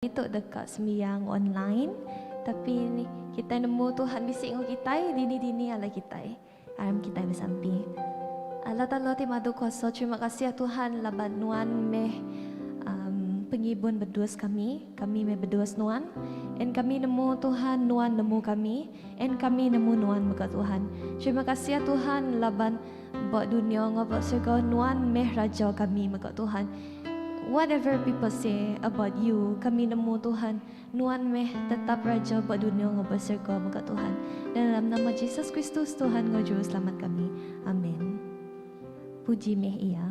Ditu deka sembiang online tapi kitai nemu Tuhan bisi enggau kitai dini dini alai kitai aram kitai besampi. Allah Taala ti madu kuasa terima kasih Tuhan laban nuan meh um pengibun bedus kami kami meh bedus nuan and kami nemu Tuhan nuan nemu kami and kami nemu nuan mega Tuhan terima kasih Tuhan laban. Ba dunya enggau ba serga nuan meh raja kami mega Tuhan. Whatever people say about you kami nemu Tuhan nuan meh tetap raja ba dunya enggau ba serga mega Tuhan. Dalam nama Jesus Kristus Tuhan enggau juru selamat kami. Amen. Puji meh iya.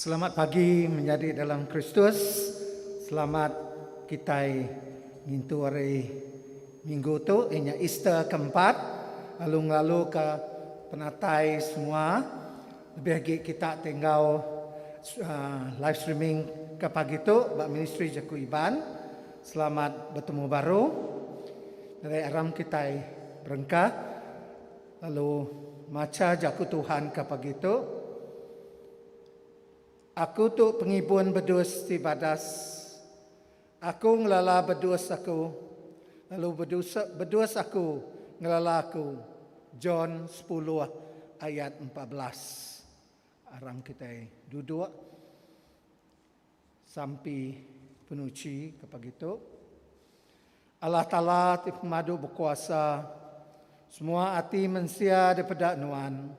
Selamat pagi menyadi dalam Kristus. Selamat kitai ngintu hari minggu tu iya nya Easter ke empat lalu ngelaluka penatai semua lebih agi kita ti enggau live streaming ke pagi tu ba Ministri Jaku Iban. Selamat betemu baru. Diri aram kitai berengkah. Lalu macha Jaku Tuhan ke pagi tu, Aku tu pengibun bedus ti badas. Aku ngelala bedus aku, lalu bedus bedus aku ngelala aku. John sepuluh ayat empat belas. Arang kitai duduk. Sampi penuchi ke pagi tu. Allah Taala ti pemadu bekuasa, semua ati mensia dipeda Nuan,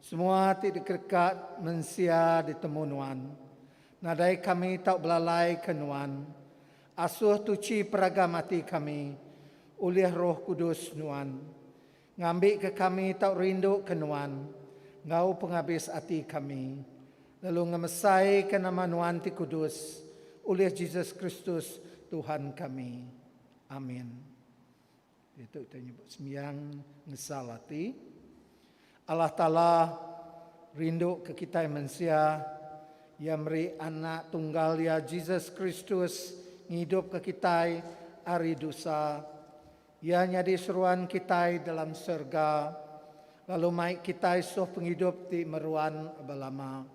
semua ti dikereka mensia ditemu Nuan. Nadai kami tau belalaika Nuan. Asuh tuchi peragam ati kami ulih Roh Kudus Nuan. Ngambika kami tau rinduka Nuan enggau pengabis ati kami, lalu ngemesaika nama Nuan ti kudus, ulih Jesus Kristus, Tuhan kami. Amin. Ditu kitai nyebut sembiang ngesal ati. Allah Taala rinduka kitai mensia. Iya meri Anak Tunggal Iya, Jesus Kristus, ngidupka kitai ari dusa. Iya nyadi seruan kitai dalam serega lalu mai kitai suh pengidup ti meruan belama.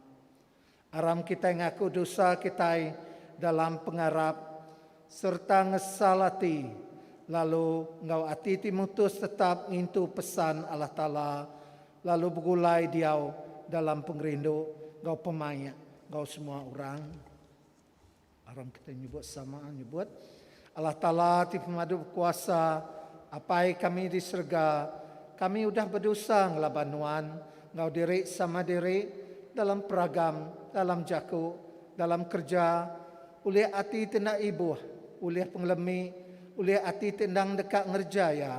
Aram kitai ngaku dosa kitai dalam pengarap sereta ngesal ati lalu enggau ati ti mutus tetap ngintu pesan Allah Taala lalu begulai diau dalam pengerindu enggau pemaik enggau semua orang. Aram kitai nyebut sama nyebut Allah Taala ti pemadu bekuasa, Apai kami di serega, kami udah bedosa ngelaban Nuan enggau diri sama diri dalam peragam, dalam jaku, dalam kereja, ulih ati ti enda ibuh, ulih pengelemi, ulih ati ti endang deka ngereja iya.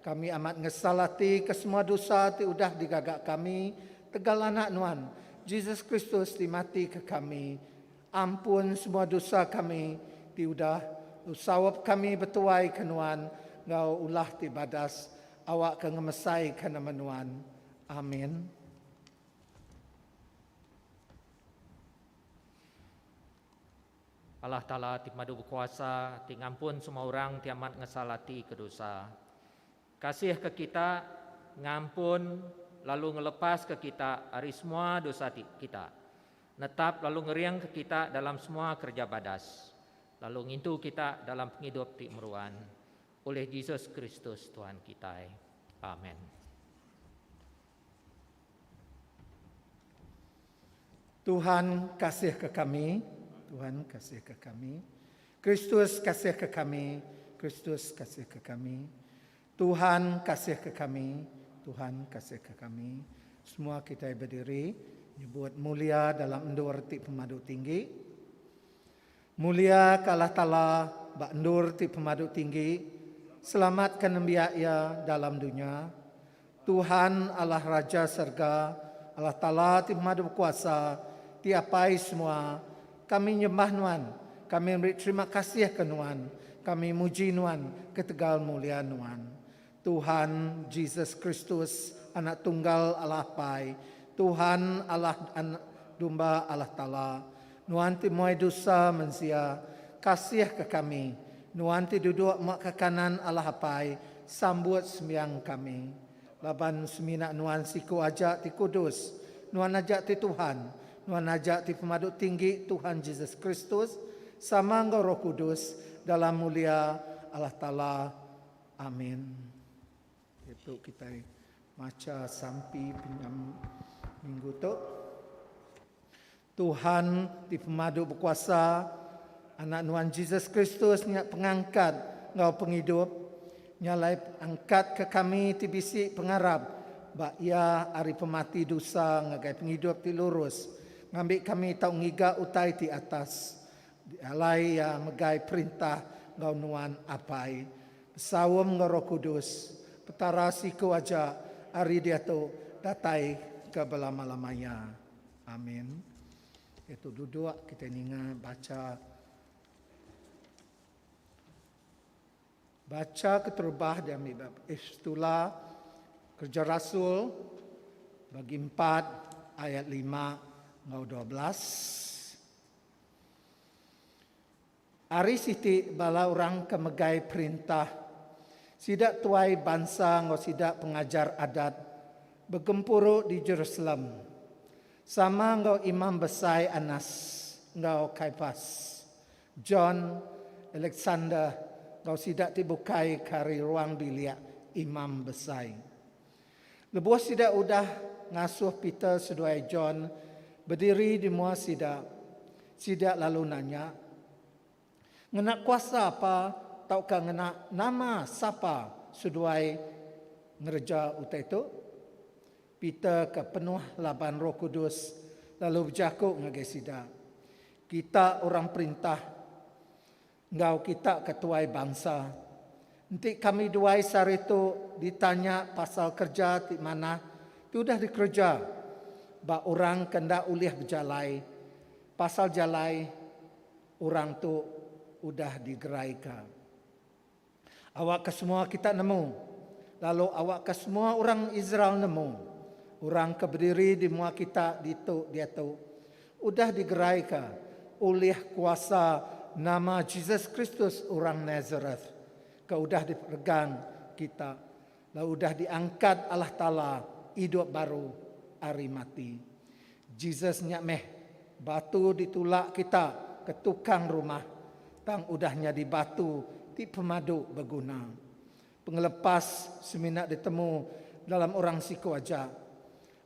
Kami amat ngesal ati ke semua dosa ti udah digaga kami tegal Anak Nuan, Jesus Kristus ti mati ke kami. Ampun semua dosa kami ti udah nsaup kami betuai ke Nuan enggau ulah ti badas, awakka ngemesaika nama Nuan. Amin. Allah Taala ti pemadu bekuasa, ti ngampun semua orang ti amat ngesal ati ke dosa. Kasihka kita, ngampun lalu ngelepaska kita ari semua dosa ti kita, netap lalu ngeringka kita dalam semua kereja badas, lalu ngintu kita dalam pengidup ti meruan, ulih Jesus Kristus Tuhan kitai. Amen. Tuhan kasihka kami, Tuhan kasihka kami, Kristus kasihka kami, Kristus kasihka kami, Tuhan kasihka kami, Tuhan kasihka kami. Semua kitai bediri nyebut mulia dalam endur ti pemadu tinggi. Mulia ka Allah Taala ba endur ti pemadu tinggi, selamat ka nembiak Iya dalam dunya. Tuhan Allah Raja serga, Allah Taala ti pemadu bekuasa, ti apai semua, kami nyembah Nuan, kami meri terima kasih ka Nuan, kami muji Nuan ketegal mulia Nuan. Tuhan Jesus Kristus Anak Tunggal Allah Apai, Tuhan Allah dan Dumba Allah Taala, Nuan ti muai dusa mensia, kasihka kami. Nuan ti duduk ma ka kanan Allah Apai, sambut sembiang kami. Laban semina Nuan siku aja ti kudus, Nuan aja ti Tuhan, Nuan aja ti Pemadu Tinggi Tuhan Jesus Kristus, sama enggau Roh Kudus, dalam mulia Allah Taala. Amin. Diatu kitai macha sampi penyam minggu tu. Tuhan ti pemadu bekuasa, Anak Nuan Jesus Kristus nya pengangkat enggau pengidup. Nya alai angkatka kami ti bisi pengarap ba Iya ari pemati dusa ngagai pengidup ti lurus, ngambi kami tau ngiga utai ti atas. Dialai iya megai perintah enggau Nuan Apai, besaum enggau Roh Kudus, Petara siku aja ari diatu datai ke belama-lama iya. Amin. Diatu duduk, kitai ninga bacha. Bacha keterubah diambi ba Epistula Kereja Rasul, bagi empat, ayat lima enggau dua belas. Ari siti bala orang ke megai perintah, sida tuai bansa enggau sida pengajar adat, begempuru di Jerusalem, sama enggau imam besai Anas enggau Kaipas, John, Alexander enggau sida ti bukai ke ari ruang bilik imam besai. Lebuh sida udah ngasuh Peter seduai John bediri di mua sida, sida lalu nanya, Ngena kuasa apa tauka ngena nama sapa seduai ngereja utai tu? Peter ke penuh laban Roh Kudus lalu bejaku ngagai sida, Kita orang perintah Enggau kita ke tuai bansa. Enti kami duai sehari tu ditanya pasal kereja ti manah ti udah dikereja ba orang ke enda ulih bejalai pasal jalai orang tu udah digeraika. Awakka semua kita nemu, lalu awakka semua orang Israel nemu, orang ke bediri di mua kita ditu diatu udah digeraika ulih kuasa nama Jesus Kristus orang Nazareth, ke udah diperegang kita Lalu udah diangkat Allah Taala idup baru ari mati. Jesus nya meh batu ditulak kita ke tukang rumah, tang udah nyadi batu ti pemadu beguna. Pengelepas semina ditemu dalam orang siku aja.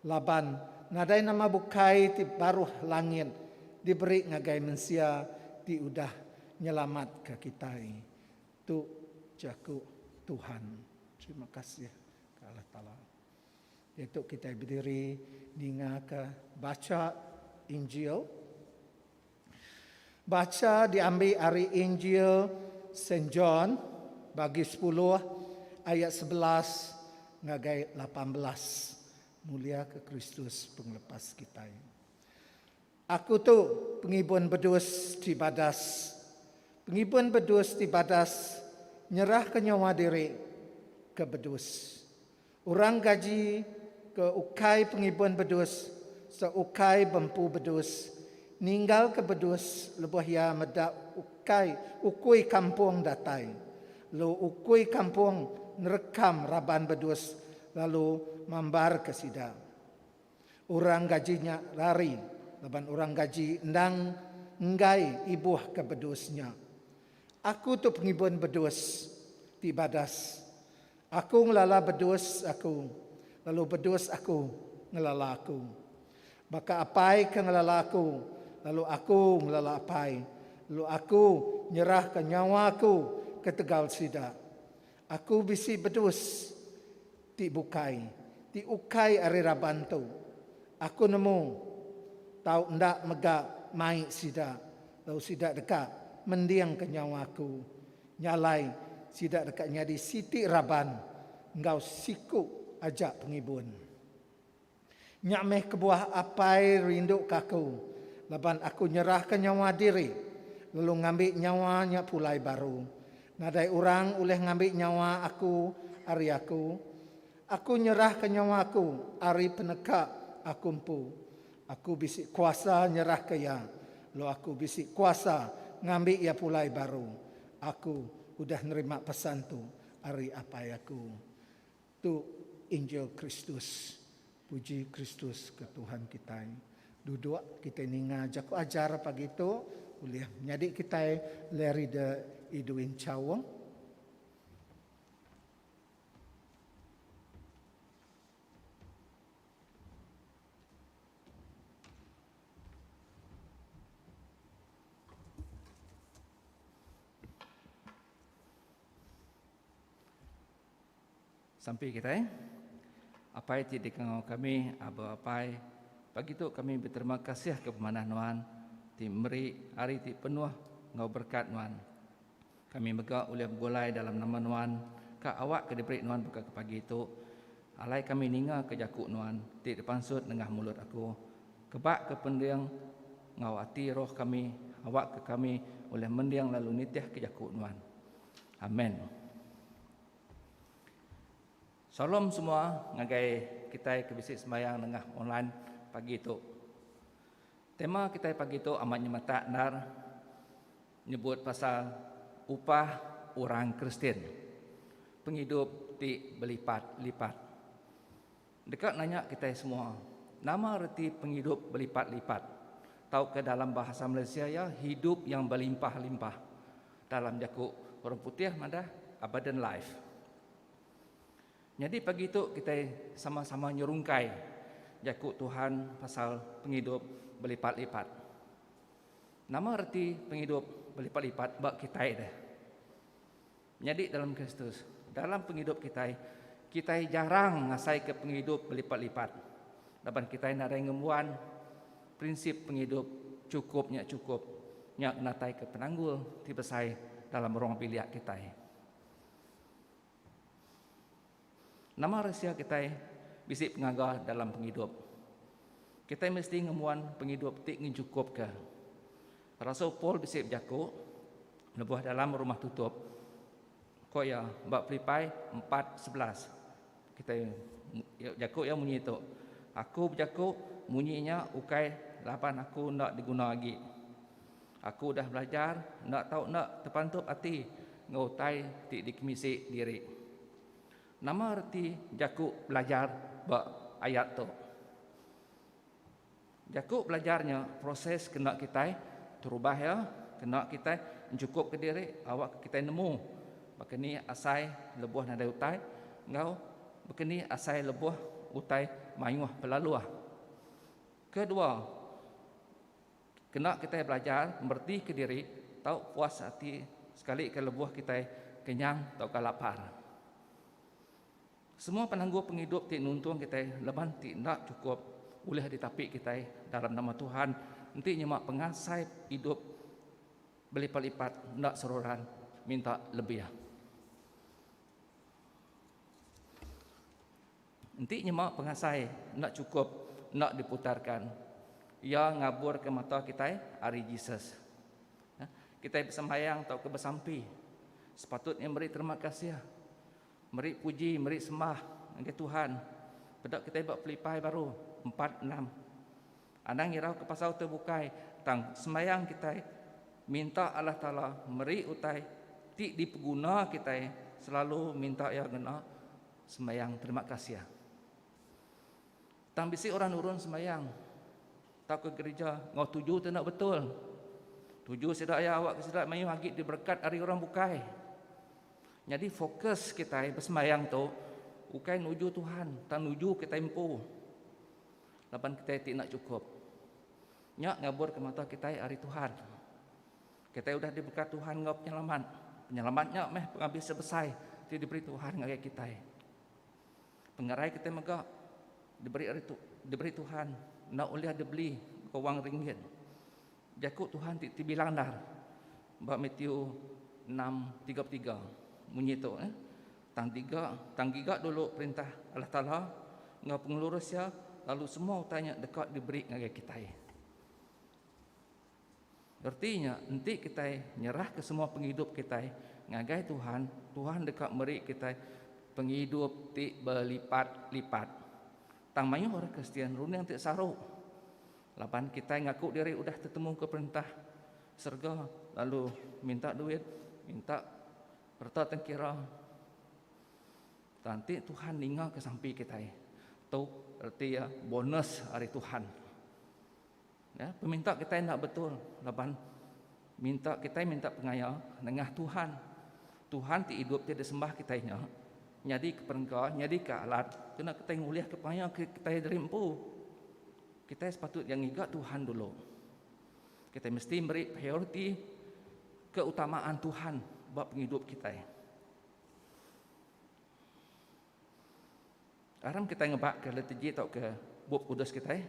Laban nadai nama bukai ti baruh langit diberi ngagai mensia ti udah nyelamatka kitai. Tu jaku Tuhan. Terima kasih ke Allah Taala. Diatu kitai bediri ningaka bacha Injil. Bacha diambi ari Injil Saint John bagi sepuluh ayat sebelas ngagai lapan belas. Muliaka Kristus pengelepas kitai. Aku tu pengibun bedus ti badas. Pengibun bedus ti badas nyerahka nyawa diri ke bedus. Orang gaji ke ukai pengibun bedus sereta ukai bempu bedus ninggalka bedus lebuh iya meda ukai ukui kampung datai, lalu ukui kampung nerekam raban bedus lalu mambarka sida. Orang gaji nya lari laban orang gaji endang enggai ibuh ke bedus nya. Aku tu pengibun bedus ti badas. Aku ngelala bedus aku lalu bedus aku ngelala aku. Baka apai ke ngelala aku lalu aku ngelala apai lalu aku nyerahka nyawa aku ketegal sida. Aku bisi bedus ti bukai, ti ukai ari raban tu. Aku nemu tau enda mega mai sida, lalu sida deka mendingka nyawa aku. Nya alai, sida deka nyadi siti raban enggau siku aja pengibun. Nya meh kebuah Apai rinduka aku, laban aku nyerahka nyawa diri, lalu ngambi nyawa nya pulai baru. Nadai orang ulih ngambi nyawa aku ari aku. Aku nyerahka nyawa aku ari peneka aku empu. Aku bisi kuasa nyerahka iya, lalu aku bisi kuasa ngambi iya pulai baru. Aku udah nerima pesan tu ari Apai aku. Tu injil Kristus. Puji Kristus ke Tuhan kitai. Duduk kitai ninga jaku ajar pagi tu ulih nyadi kitai lerida idui enchaung. Sampi kitai, Apai ti di kengau kami, Aba Apai, pagi tu kami beterima kasih ke pemanah Nuan ti meri hari ti penuh enggau berekat Nuan. Kami mega ulih begulai dalam nama Nuan ka awak ke diberi Nuan baka ke pagi tu. Alai kami ninga ke jaku Nuan ti dipansut nengah mulut aku. Kebak ke pending enggau ati roh kami awak ke kami ulih mending lalu nitih ke jaku Nuan. Amen. Shalom semua ngagai kitai ke bisi sembahyang nengah online pagi tu. Tema kitai pagi tu amat nyemetak endar nyebut pasal upah orang Kristian. Pengidup ti belipat-lipat. Deka nanya kitai semua, nama reti pengidup belipat-lipat tauka dalam bahasa Malaysia iya hidup yang belimpah-limpah? Dalam jaku orang putih madah abundant life. Nyadi pagi tu kitai sama-sama nyerungkai jaku Tuhan pasal pengidup belipat-lipat. Nama reti pengidup belipat-lipat ba kitai deh? Nyadi dalam Kristus. Dalam pengidup kitai, kitai jarang ngasaika pengidup belipat-lipat laban kitai nadai ngembuan prinsip pengidup chukup nya chukup nya ngenataika penanggul ti besai dalam ruang bilik kitai. Nama resia kitai bisi pengaga dalam pengidup? Kitai mesti ngembuan pengidup ti ngejukupka. Rasul Paul bisi bejaku lebuh dalam rumah tutup. Ko iya ba Filipai 4:11. Kitai iya bejaku iya munyi tu, Aku bejaku munyi nya ukai laban aku enda diguna agi. Aku udah belajar enda tau enda tepantup ati enggau utai ti dikemisi diri. Nama reti jaku belajar ba ayat tu? Jaku belajar nya proses kena kitai terubah iya, kena kitai enchukupka diri awakka kitai nemu baka ni asai lebuh nadai utai enggau baka ni asai lebuh utai mayuh pelaluh. Kedua. Kena kitai belajar meretika diri tau puas ati sekalika lebuh kitai kenyang tauka lapar. Semua penanggul pengidup ti nuntung kitai laban ti enda chukup ulih ditapi kitai dalam nama Tuhan enti nyema pengasai idup belipat-lipat enda seruran minta lebih. Enti nyema pengasai enda chukup enda diputarka, iya ngaburka mata kitai ari Jesus. Kitai besembahyang tauka besampi sepatutnya meri terima kasih, meri puji, meri sembah ngagai Tuhan. Peda kitai ba Filipai baru empat enam. Anang ngirauka pasal tu bukai tang sembahyang kitai minta Allah Taala meri utai ti dipeguna kitai selalu minta Iya ngena. Sembayang terima kasih. Tang bisi orang nurun sembayang tauka gerija enggau tuju tu enda betul. Tuju sida iya awakka sida mayuh agi diberekat ari orang bukai. Nyadi fokus kitai besembayang tu ukai nuju Tuhan tang nuju kitai empu. Laban kitai ti enda chukup. Nya ngaburka mata kitai ari Tuhan. Kitai udah dibeka Tuhan enggau penyelamat. Penyelamat nya meh pengambi sebesai ti diberi Tuhan ngagai kitai. Pengerai kitai mega diberi ari tu, diberi Tuhan enda ulih dibeli enggau wang ringgit. Jaku Tuhan ti tebilang endar ba Matthew 6:33 munyi tu, eh, tang diga, tang giga dulu perintah Allah Taala enggau pengelurus iya lalu semua utai nya deka diberi ngagai kitai. Reti nya, enti kitai nyerahka semua pengidup kitai ngagai Tuhan, Tuhan deka meri kitai pengidup ti belipat-lipat. Tang mayuh orang Kristian runding ti saru laban kitai ngaku diri udah tetemuka Perintah serega lalu minta duit, minta reta tengkira. Tang enti Tuhan ningaka sampi kitai, tu reti iya bonus ari Tuhan. Ya, peminta kitai enda betul laban minta kitai minta pengaya nengah Tuhan. Tuhan ti idup ti disembah kitai nya nyadi ke perengka, nyadi ke alat kena kitai ngulih ke pengaya kitai diri empu. Kitai sepatut dia ngiga Tuhan dulu. Kitai mesti meri prioriti keutamaan Tuhan ba pengidup kitai. Aram kitai ngebaka liturgi tauka Bup Kudus kitai,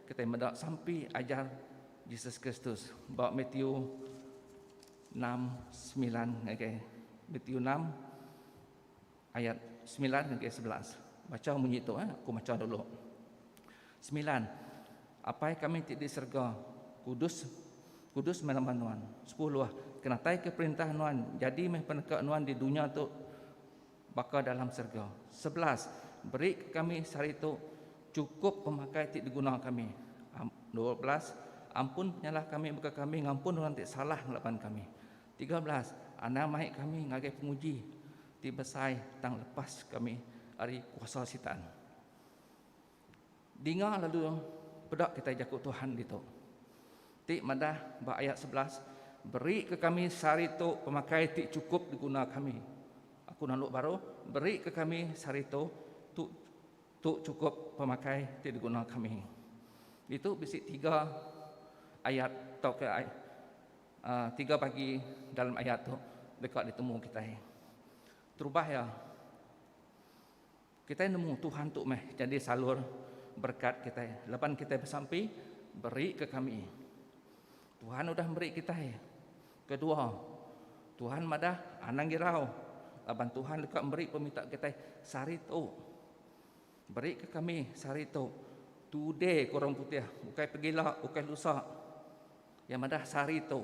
kitai meda sampi ajar Jesus Kristus ba Matiu enam semilan ngagai Matiu enam ayat semilan ngagai sebelas. Baca munyi tu eh, aku baca dulu. Semilan. Apai kami ti di serega, kudus kudus meh nama nuan. Sepuluh. Kenataika perintah nuan, jadi meh peneka nuan di dunya tu Baka dalam serega. Sebelas, Beri ke kami sehari tu chukup pemakai ti diguna kami. Dua belas, Ampun penyalah kami baka kami ngampun orang ti salah ngelaban kami. Tiga belas, Anang mai kami ngagai penguji ti besai tang lepas kami ari kuasa Sitan. Dinga lalu peda kitai jaku Tuhan ditu. Ti madah ba ayat sebelas, Berika kami sehari tu pemakai ti chukup diguna kami. Aku nalu baru, Berika kami sehari tu, tu tu chukup pemakai ti diguna kami. Ditu bisi tiga ayat tauka uh, tiga bagi dalam ayat tu deka ditemu kitai. Terubah ya, Kitai nemu Tuhan tu meh jadi salur berekat kitai laban kitai besampi beri ke kami. Tuhan udah meri kitai. Kedua, Tuhan madah anang girau laban Tuhan deka meri pemita kitai sehari tu. Beri ke kami sehari tu. Today ke orang putih, bukai pegila, bukai lusa. Yang madah sehari tu.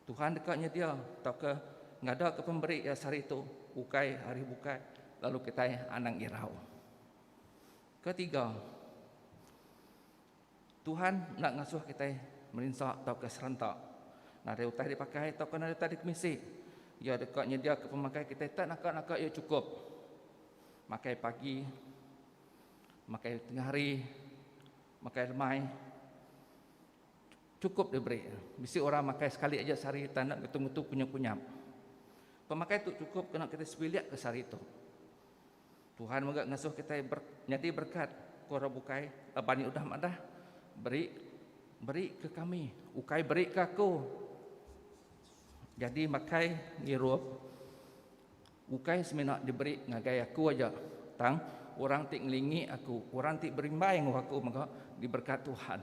Tuhan deka nyedia tauka ngadaka pemeri Iya seharitu ukai ari bukai lalu kitai anang irau. Ketiga, Tuhan enda ngasuh kitai merinsa tauka serenta. Nadai utai dipakai tauka nadai utai dikemisi, Iya deka nyediaka pemakai kitai tak naka-naka iya chukup. Makai pagi, makai tengah hari, makai lemai. Chukup diberi. Bisi orang makai sekali aja sehari tang enda ngetu-ngetu kunyap-kunyap. Pemakai tu chukup kena kitai sebilik ke sehari tu. Tuhan mega ngasuh kitai ber, nyadi berekat, ku orang bukai laban iya udah madah, Beri, beri ke kami, ukai beri ke aku. Jadi makai ngirup. Ukai semina diberi ngagai aku aja, tang orang ti ngelingi aku, orang ti berimbai enggau aku mega diberkat Tuhan.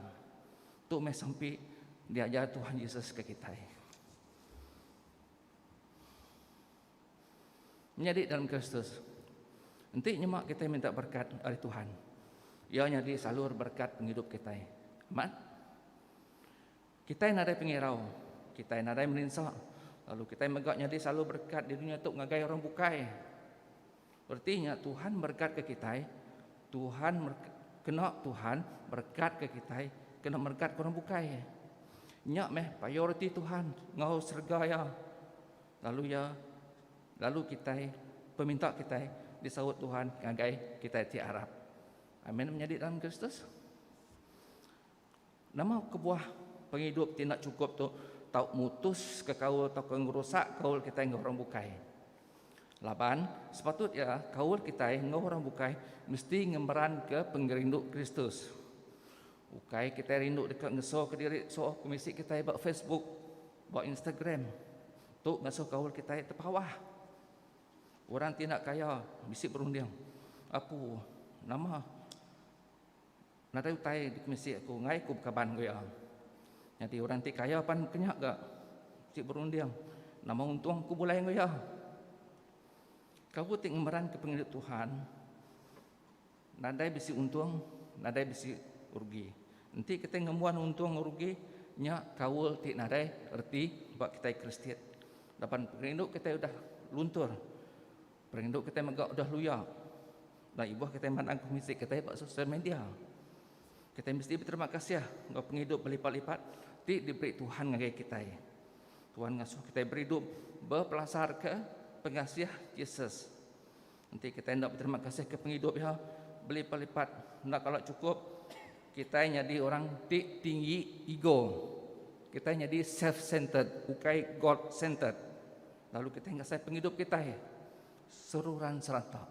Tu meh sampi diajar Tuhan Jesus ke kitai. Menyadi dalam Kristus. Enti nyema kitai minta berkat ari Tuhan. Ia nyadi salur berkat pengidup kitai. Amat. Kitai nadai pengirau, kitai nadai meninsa, lalu kitai mega nyadi selalu berekat di dunya tu ngagai orang bukai. Reti nya Tuhan merekat ke kitai, Tuhan kena Tuhan merekat ke kitai, kena merekat ke orang bukai. Nya meh payau reti Tuhan enggau serega iya. Lalu iya lalu kitai peminta kitai disaut Tuhan ngagai kitai ti arap. Amin menyadi dalam Kristus. Nama kebuah pengidup ti enda chukup tu tau mutuska kaul tauka ngerusak kaul kitai enggau orang bukai? Laban, sepatut iya kaul kitai enggau orang bukai mesti ngemeranka pengerindu Kristus. Ukai kitai rindu deka ngesoka diri suoh ke misi kitai ba Facebook, ba Instagram. Tu ngasuh kaul kitai tepawah. Orang ti enda kaya bisi berunding, Apu, nama? Nadai utai dikemisi aku enggai aku bekaban enggau iya. Nyadi orang ti kaya pan meh kenya ga ti berunding nama untung aku bulai enggau iya. Kaul ti ngemeranka pengidup Tuhan nadai bisi untung nadai bisi rugi. Enti kitai ngembuan untung enggau rugi nya kaul ti nadai reti ba kitai Kristian laban pengidup kitai udah luntur Perindu kitai mega udah luya udah ibuh kitai mandang ke muzik kitai ba sosial media. Kitai mesti beterima kasih enggau pengidup belipat-lipat ti diberi Tuhan ngagai kitai. Tuhan ngasuh kitai beridup bepelasarka pengasih Jesus. Enti kitai enda beterima kasih ke pengidup iya belipat-lipat enda kala cukup kitai nyadi orang ti tinggi ego. Kitai nyadi self centered ukai God centered. Lalu kitai ngasai pengidup kitai seruran serata.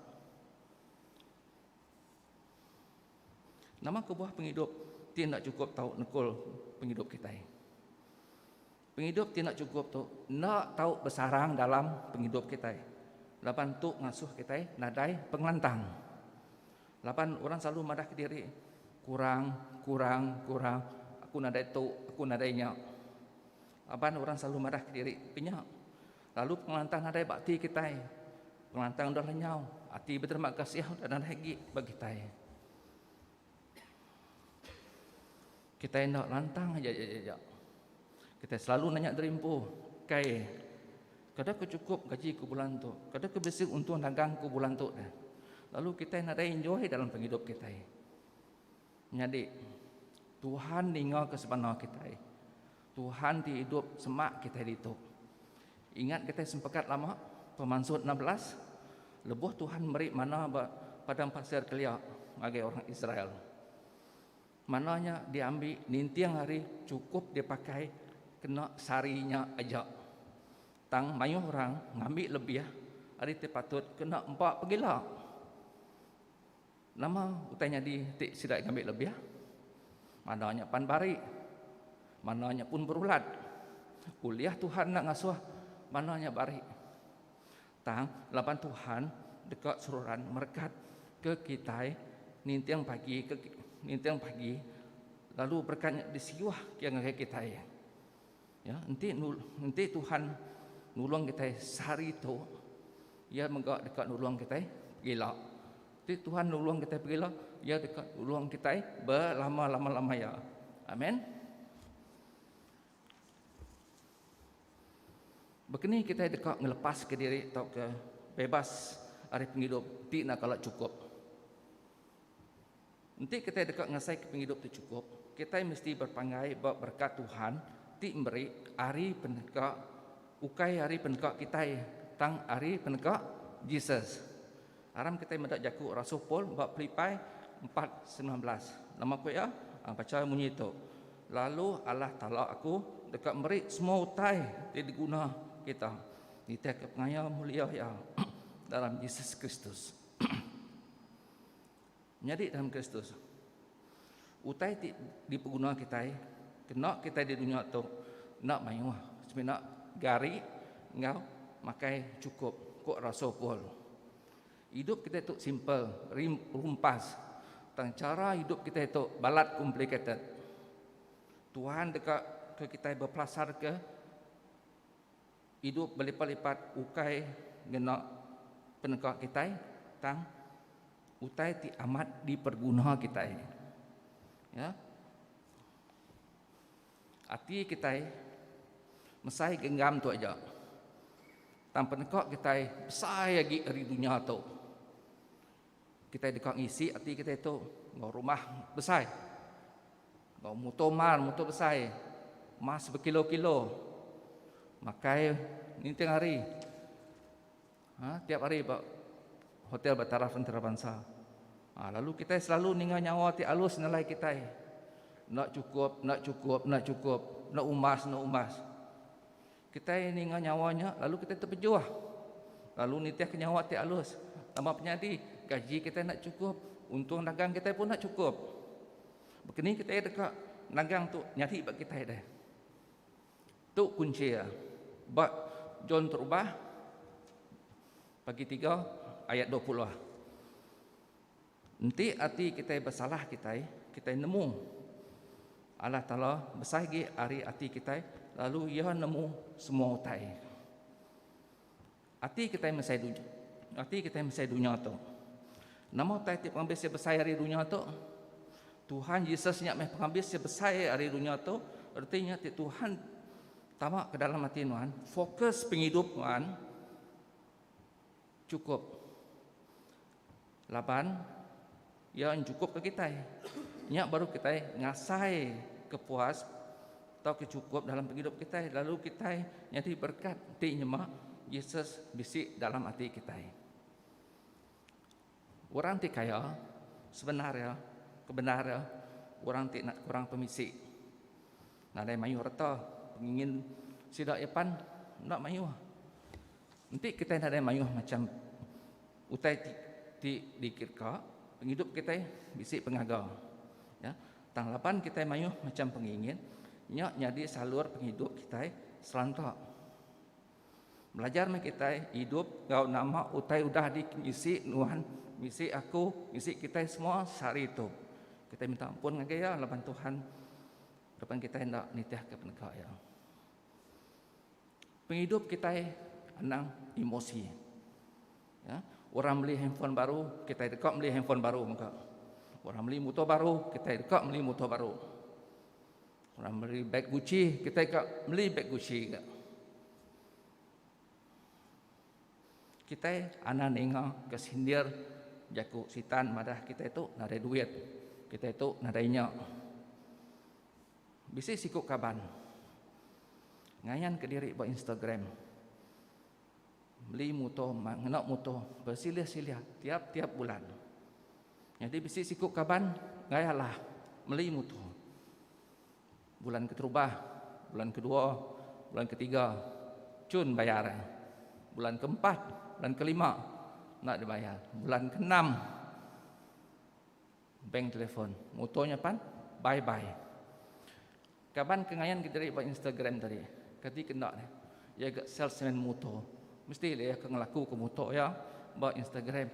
Nama kebuah pengidup ti enda cukup tau nekul pengidup kitai? Pengidup ti enda cukup tu enda tau besarang dalam pengidup kitai. Laban tu ngasuh kitai nadai pengelantang. Laban orang selalu madah kediri, kurang, kurang, kurang, aku nadai tu, aku nadai nya. Laban orang selalu madah kediri ke nya. Lalu pengelantang nadai ba ati kitai. Pengelantang udah lenyau, ati beterima kasih udah nadai agi ba kitai. Kitai enda lantang aja iya aja. Kitai selalu nanya diri empu, Kai, kada ke chukup gaji ku bulan tu? Kada ke bisi untung dagang ku bulan tu? Lalu kitai nadai enjoy dalam pengidup kitai. Nyadi, Tuhan ninga ke sebana kitai. Tuhan ti idup semak kitai ditu. Ingat kitai sempekat lama pemansut enam belas lebuh Tuhan meri manna ba padang pasir kelia ngagai orang Israel. Manna nya diambi ninting hari chukup dipakai kena sehari nya aja. Tang mayuh orang ngambi lebih ari ti patut kena empa pegila. Nama utai nyadi ti sida ngambi lebih? Manah nya pan bari. Manah nya pun berulat. Ulih Tuhan enda ngasuh manah nya bari. Tang laban Tuhan deka seruran merekat ke kitai ninting pagi ke ninting pagi lalu berekat nya disiuh ke ngagai kitai. Ya, enti enti Tuhan nulung kita sehari tu, ia mega dekat nulung kita gila. Enti Tuhan nulung kita gila, ia dekat nulung kita berlama-lama lama ya. Amin. Begini kita dekat ngelepas ke diri atau ke bebas hari penghidup ti nak kala cukup. Enti kitai deka ngasaika pengidup ti chukup, kitai mesti berpanggai ba berekat Tuhan ti meri ari peneka, ukai ari peneka kitai, tang ari peneka Jesus. Aram kitai meda jaku rasul Paul ba Pilipai empat semilan belas. Nama ku iya? Bacha munyi tu, Lalu Allah Taala aku deka meri semua utai ti diguna kita nitihka pengaya mulia Iya dalam Jesus Kristus. Nyadi dalam Kristus. Utai ti dipeguna kitai kena kitai di dunya tu enda mayuh semina gari enggau makai chukup, ku rasul Paul. Idup kitai tu simple, rumpas, tang chara idup kitai tu balat complicated. Tuhan deka ke kitai bepelasarka. Idup belipat-lipat ukai ngena peneka kitai, tang utai ti amat diperguna kitai. Ya. Ati kitai mesai genggam tu aja. Tang peneka kitai besai agi ari dunya tu. Kitai deka ngisi ati kitai tu enggau rumah besai. Enggau muto mar, muto besai. Mas bekilo-kilo. Makai ninting hari. Ha, tiap hari ba hotel ba taraf antarabansa. Ha, lalu kitai selalu ninga nyawa ti alus nelai kitai. Enda cukup, enda cukup, enda cukup. Enda umbas, enda umbas. Kitai ninga nyawa nya lalu kitai tepejuh lalu nitihka nyawa ti alus. Nama penyadi, gaji kitai enda chukup, untung dagang kitai pun enda chukup. Baka ni kitai deka nagang tu nyadi ba kitai deh? Tu kunchi iya ba John Terubah pagi tiga ayat dua puluh. Enti ati kitai besalah kitai, kitai nemu Allah Taala besai agi ari ati kitai lalu Iya nemu semua utai. Ati kitai mesai dunya, ati kitai mesai dunya tu. Nama utai ti pengabis iya besai ari dunya tu? Tuhan Yesus nya meh pengabis iya besai ari dunya tu, reti nya ti Tuhan tama ke dalam ati nuan, fokus pengidup nuan cukup Laban, iya enchukupka kitai. Nya baru kitai ngasai kepuas tauka chukup dalam pengidup kitai lalu kitai nyadi berekat ti nyema Jesus bisi dalam ati kitai. Orang ti kaya, sebenar iya, kebendar iya, orang ti enda kurang pemisi. Nadai mayuh reta pengingin sida iya pan enda mayuh. Enti kitai nadai mayuh macam Utai ti dikirka, pengidup kitai bisi pengaga iya tang laban kitai mayuh macham pengingin, nya nyadi salur pengidup kitai seranta. Belajar meh kitai idup enggau nama utai udah dibisi Nuan, bisi aku, bisi kitai semua sehari tu. Kitai minta ampun ngagai Iya laban Tuhan laban kitai enda nitihka peneka Iya. Pengidup kitai anang emosi. Ya, orang beli handphone baru, kitai deka beli handphone baru mega. Orang beli motor baru, kitai deka beli motor baru. Orang beli beg Gucci, kita deka beli beg Gucci juga. Kita anak ninga ke sindir jaku sitan madah kita itu nadai duit. Kita itu nadai nya. Bisi siku kaban ngayan ke diri ba Instagram meli muto ngena muto bersilih-silih tiap-tiap bulan. Nyadi bisi siku kaban enggai alah meli muto bulan keterubah, bulan kedua, bulan ketiga cun bayar iya. Bulan keempat, bulan kelima enda dibayar. Bulan keenam. Bank telefon muto nya pan bye bye. Kaban ke ngayan kediri ba Instagram tadi ke ti kenda ne iya ga salesman muto mesti la iya ke ngelaku ke muto iya ba Instagram.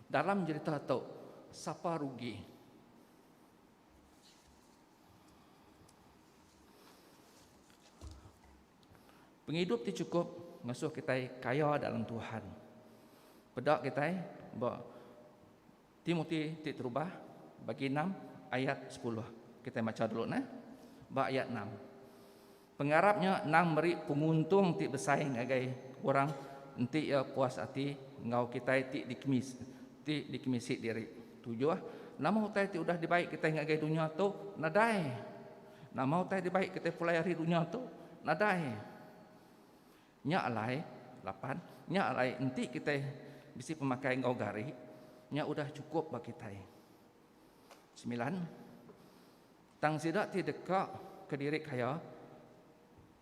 Dalam jerita tu sapa rugi. Pengidup ti chukup ngasuh kitai kaya dalam Tuhan. Peda kitai ba Timoti ti terubah, bagi enam, ayat sepuluh. Kitai macha dulu nah. Ba ayat enam. Pengarap nya endang meri penguntung ti besai ngagai orang enti iya puas ati enggau kitai ti dikemis ti dikemisi diri. Tujuh, nama utai ti udah dibai kitai ngagai dunya tu? Nadai. Nama utai dibai kitai pulai ari dunya tu? Nadai. Nya alai, lapan, nya alai enti kitai bisi pemakai enggau gari, nya udah chukup ba kitai. Semilan, tang sida ti deka ke diri kaya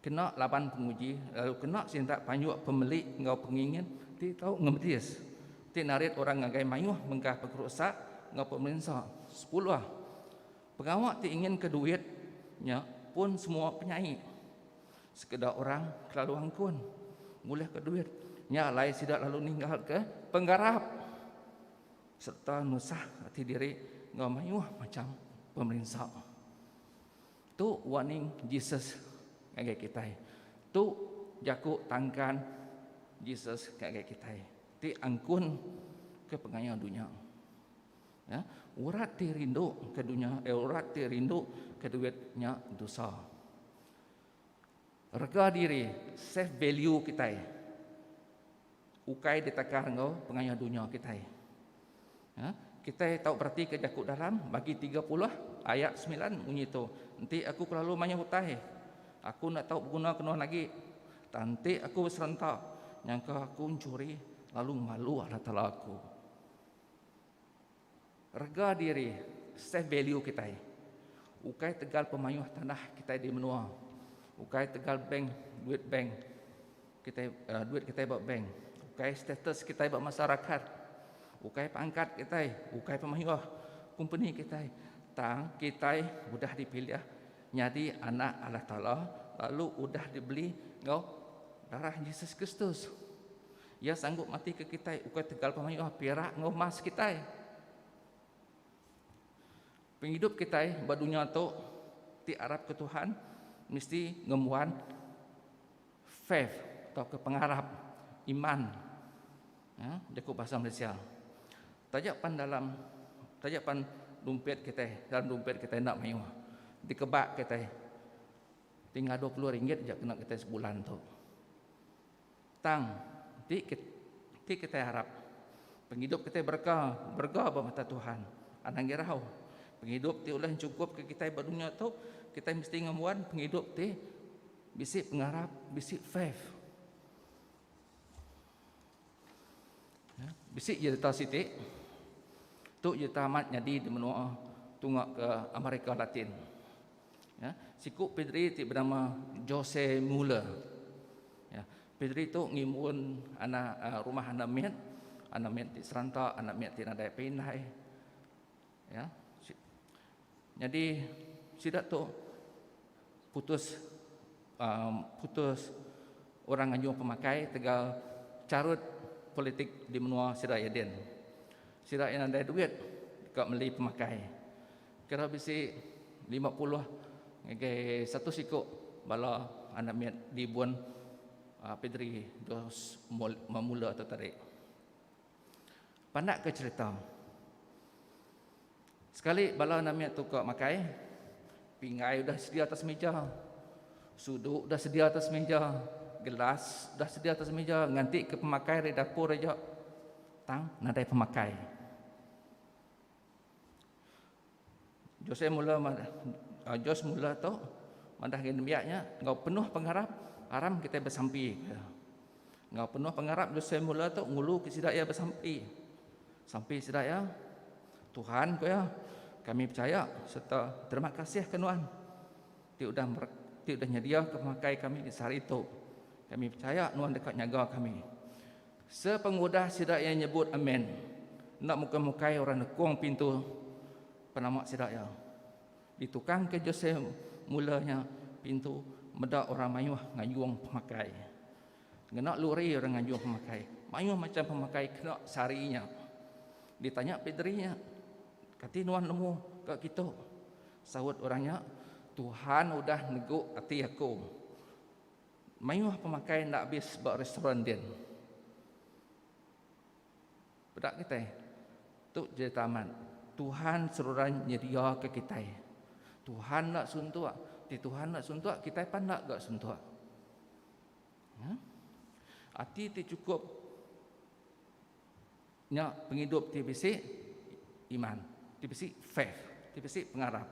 kena laban penguji lalu kena sintak panjuk pemeli enggau pengingin ti tau ngemetis, ti narit orang ngagai mayuh mega pekrusak enggau pemerinsa. Sepuluh. Pengawa ti inginka duit nya pun semua penyai. Sekeda orang kelalu angkun ngulihka duit nya alai sida lalu ninggalka pengarap sereta nusah ati diri enggau mayuh macham pemerinsa. Tu warning Jesus ngagai kitai. Tu jaku tangkan Jesus ngagai kitai ti angkunka pengaya dunya. Ya, urat ti rindu ke dunya, eh, urat ti rindu ke duit nya dosa. Rega diri, self value kitai. Ukai ditakar enggau pengayuh dunya kitai. Ya, kitai tau berati ke jaku dalam bagi 30 ayat 9 munyi tu, enti aku kelalu mayuh utai, aku enda tau beguna kenuan agi. Tang enti aku beserenta, nyangka aku mencuri lalu malu Allah Taala aku. Rega diri, self value, kitai ukai tegal pemayuh tanah kitai di menua, ukai tegal bank duit bank kitai duit kitai ba bank, ukai status kitai ba masyarakat, ukai pangkat kitai, ukai pemayuh kompeni kitai tang kitai udah dipilih nyadi anak Allah Taala lalu udah dibeli enggau darah Jesus Kristus. Iya sanggup matika kitai ukai tegal pemayuh pirak enggau emas kitai. Pengidup kitai ba dunya tu ti arap ke Tuhan mesti ngembuan faith atau ke pengarap iman. Ya, jaku bahasa Malaysia. Taja pan dalam taja pan dompet kitai, dalam dompet kitai enda mayuh. Dikebak kitai tinggal 20 ringgit je kena kitai sebulan tu. Tang, enti enti kitai arap pengidup kitai berega, berega ba mata Tuhan, anang irau. Pengidup ti ulih nyukupka kitai ba dunya tu, kitai mesti ngembuan pengidup ti bisi pengarap, bisi faith. Bisi jerita siti, tu jerita amat nyadi di menua tunga ke America Latin. Ya, siku pedri ti benama Jose Muller. Ya, pedri tu ngimun anak uh, rumah anak mit, anak mit ti seranta, anak mit ti nadai pindai. Ya. Jadi sida tu putus um, putus orang anjung pemakai tegal carut politik di menua sida Eden. Sida yang ada duit dekat meli pemakai. Kira bisi lima puluh ngagai satu siku bala anak mit di Bun Pedri dos Mamula tu tadi. Pandakka cherita. Sekali bala anak mit tu ka makai, pinggai udah sedia atas meja, sudu udah sedia atas meja, gelas udah sedia atas meja nganti ke pemakai ari dapur aja tang nadai pemakai. Jose mula Jose mula tu madah agi nembiak nya enggau penuh pengarap aram kitai besampi ku iya. Enggau penuh pengarap Jose mula tu ngulu ke sida iya besampi. Sampi sida iya, Tuhan ku iya, kami pechaya sereta terima kasih ke nuan ti udah ti udah nyediaka pemakai kami di sehari tu. Kami pechaya nuan deka nyaga kami. Sepengudah sida iya nyebut amen, enda mukai-mukai orang nekung pintu penama sida iya. Ditukangka Jose mula nya pintu meda orang mayuh ngayung pemakai. Ngena luri orang ngayung pemakai. Mayuh macham pemakai kena sehari nya. Ditanya pederi nya, Kati nuan nemu ka kitu? Saut orang nya, Tuhan udah negu ati aku. Mayuh pemakai enda abis ba restoran din. Peda kitai. Tu jerita amat. Tuhan seruran nyediaka kitai. Tuhan enda suntuk. Ti Tuhan enda suntuk, kitai pan enda ga suntuk. Ya. Ati ti chukup Nya pengidup ti bisi iman, ti bisi faith, ti bisi pengarap.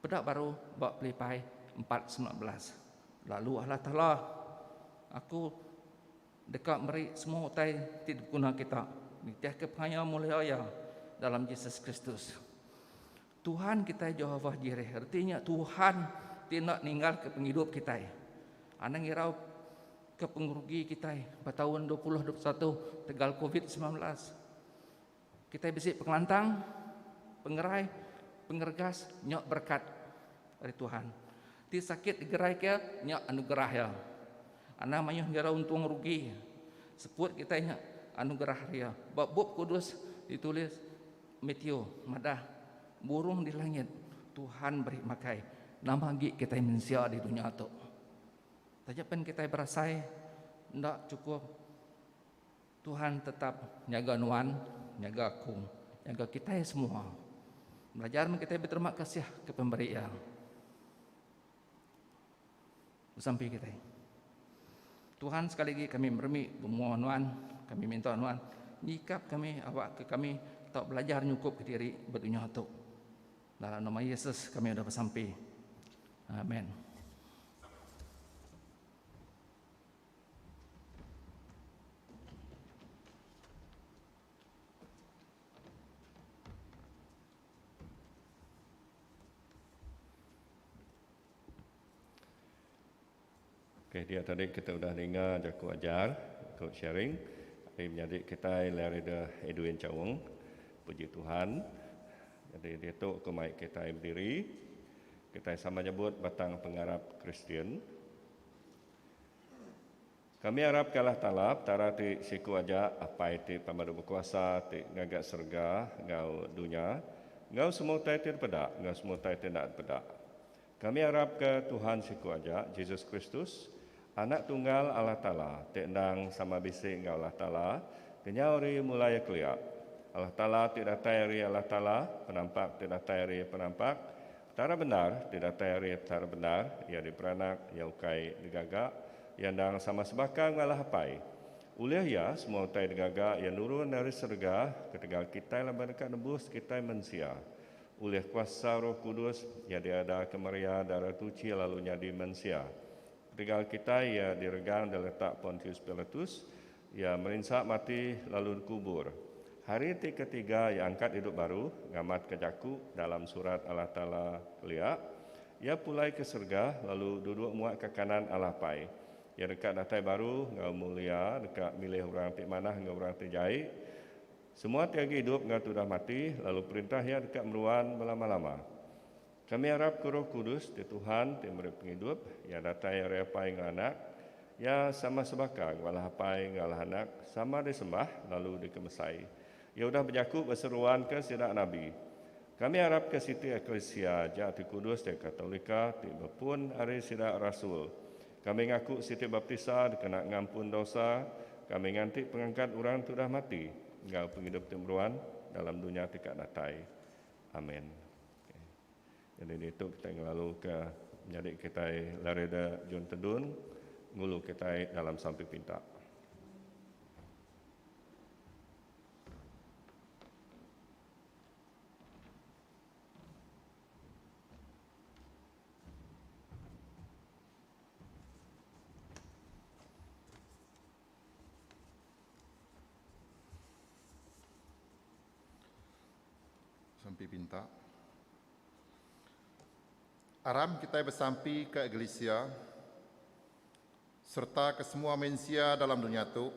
Peda baru ba Pelipai empat semilan belas. Lalu Allah Taala, Aku deka meri semua utai ti dibeguna kita nitihka pengaya mulia Iya dalam Jesus Kristus. Tuhan kitai Jehovah Jireh, reti nya Tuhan ti enda ninggalka pengidup kitai. Anang ngirauka pengerugi kitai ba taun dua puluh dua puluh satu tegal Covid semilan belas. Kitai bisi pengelantang, pengerai, pengeregas, nya berekat ari Tuhan. Ti sakit digeraika, nya anugerah Iya. Anang mayuh ngirau untung rugi, seput kitai nya anugerah ari Iya. Ba Bup Kudus ditulis, Matthew madah, Burung di langit Tuhan beri makai nama agi kitai mensia di dunya tu. Taja pen kitai berasai enda chukup, Tuhan tetap nyaga nuan, nyaga aku, nyaga kitai semua. Belajar meh kitai beterima kasih ke pemberi Iya. Besampi kitai. Tuhan sekali lagi kami meremik bemua nuan, kami minta nuan nyikap kami awak ke kami tau belajar nyukup ke diri ba dunya tu. Dalam nama Yesus kami udah besampi. Amen. Okey dia tadi kita udah ninga jaku ajar ku sharing ari menyadi kitai Learida Edwin Chaung. Puji Tuhan jadi ditu ku mai kitai bediri kitai sama nyebut batang pengarap Kristian. Kami arap kalah talap Tara ti siku aja Apai ti pemadu bekuasa ti ngaga serega enggau dunya enggau semua utai ti dipeda enggau semua utai ti enda dipeda. Kami arap ke Tuhan siku aja Jesus Kristus Anak Tunggal Allah Taala ti endang sama bisi enggau Allah Taala kenyau ari mulai kelia Allah Taala ti datai ari Allah Taala penampak ti datai ari penampak Tara bendar ti datai ari Petara bendar, iya diperanak, iya ukai digaga, iya endang sama sebaka ngalah Apai. Ulih iya, semua utai digaga iya nurun ari serega ketegal kitai laban deka nebus kitai mensia. Ulih kuasa Roh Kudus, iya diadaka Maria Dara Tuchi lalu nyadi mensia. Ketegal kitai, iya diregang diletak Pontius Pilatus, Iya merinsa mati lalu dikubur. Hari ti ketiga iya angkat idup baru, ngamatka jaku dalam Surat Allah Taala kelia, Iya pulai ke serega lalu duduk muak ke kanan Allah Apai. Iya deka datai baru enggau mulia deka milih orang ti manah enggau orang ti jai. Semua ti agi idup enggau ti udah mati lalu perintah Iya deka meruan belama-lama. Kami arap ke Roh Kudus ti Tuhan ti meri pengidup iya datai ari Apai enggau Anak. Iya sama sebaka enggau Allah Apai enggau Allah Anak, sama disembah lalu dikemesai. Iya udah bejaku ba seruan ke sida nabi. Kami arap ke siti eklisia aja ti kudus iya Katolika ti bepun ari sida rasul. Kami ngaku siti baptisa dikena ngampun dosa, kami nganti pengangkat orang ti udah mati enggau pengidup ti meruan dalam dunya ti ka datai. Amen. Jadi ditu kitai ngelaluka nyadi kitai larida John Tedun ngulu kitai dalam sampi pinta. Sampi pinta. Aram kitai besampi ke Eglisia sereta ke semua mensia dalam dunya tu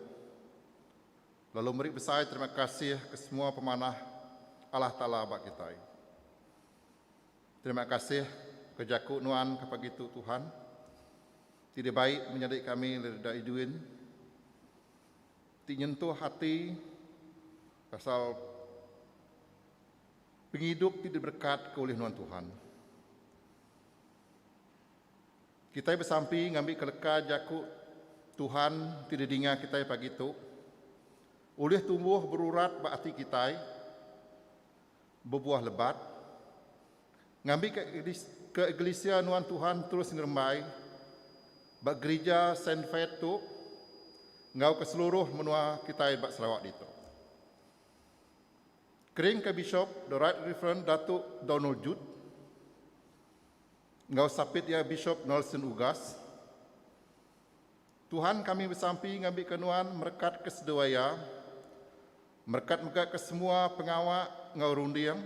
lalu meri besai terima kasih ke semua pemanah Allah Taala ba kitai. Terima kasih ke jaku nuan ke pagi tu Tuhan ti dibai menyadi kami Lirda Edwin ti nyentuh ati pasal pengidup ti diberekat ke ulih nuan Tuhan. Kitai besampi ngambi ke leka jaku Tuhan ti didinga kitai pagi tu ulih tumbuh berurat ba ati kitai. bebuah lebat. Ngambika ke Eglisia Nuan Tuhan terus ngerembai ba gerija Saint Faith tu enggau ke seluruh menua kitai ba Sarawak ditu. Kering ke Bishop The Right Reverend Datuk Donald Judd enggau Sapit iya Bishop Nelson Ugas, Tuhan kami besampi ngambika nuan merekat ke seduai iya, merekat mega ke semua pengawa enggau runding,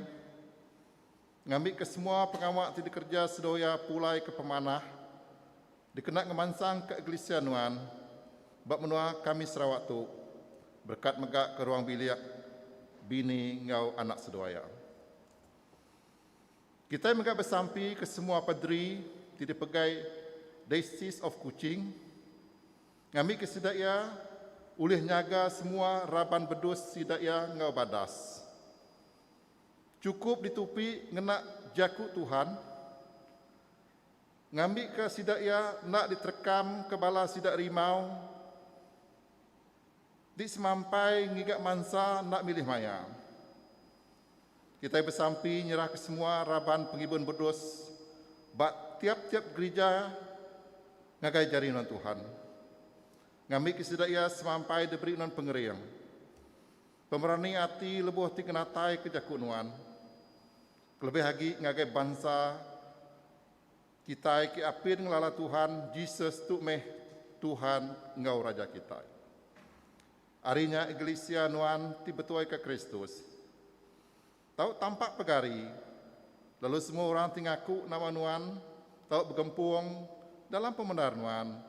ngambi ke semua pengawa ti dikereja seduai iya pulai ke pemanah dikena ngemansang ke eglisia nuan ba menua kami Sarawak tu berekat mega ke ruang bilik bini enggau anak seduai iya. Kitai mega besampi ke semua paderi ti dipegai Diocese of Kuching ngambika sida iya ulih nyaga semua raban bedus sida iya enggau badas. Chukup ditupi ngena Jaku Tuhan ngambika sida iya enda diterekam ke bala sida rimau. Di semampai ngiga mansa enda milih maya, kitai besampi nyerahka semua raban pengibun bedus ba tiap-tiap gerija ngagai jari nuan Tuhan. Ngambika sida iya semampai diberi nuan pengering, pemerani ati lebuh ti ngenataika jaku nuan, kelebih agi ngagai bansa Kitai ke apin ngelala Tuhan Jesus tu meh Tuhan enggau Raja kitai. Ari nya Eglisia nuan ti betuaika Kristus tau tampak pegari lalu semua orang ti ngaku nama nuan tau begempung dalam pemendar nuan,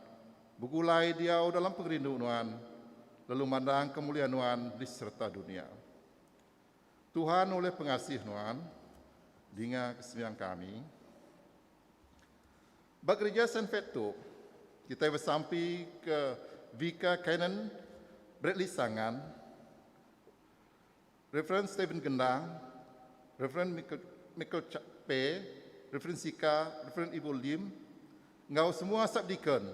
begulai diau dalam pengerindu nuan lalu mandangka mulia nuan di sereta dunia. Tuhan ulih pengasih nuan dinga kesembiang kami. Ba gereja Saint Fat tu, kita bersampi ke Vicar Canon Bradley Sangan, Reverend Stephen Gendang, Reverend Michael, Michael Chak Pe, Reverend Sika, Reverend Ibu Lim, enggau semua subdeacon.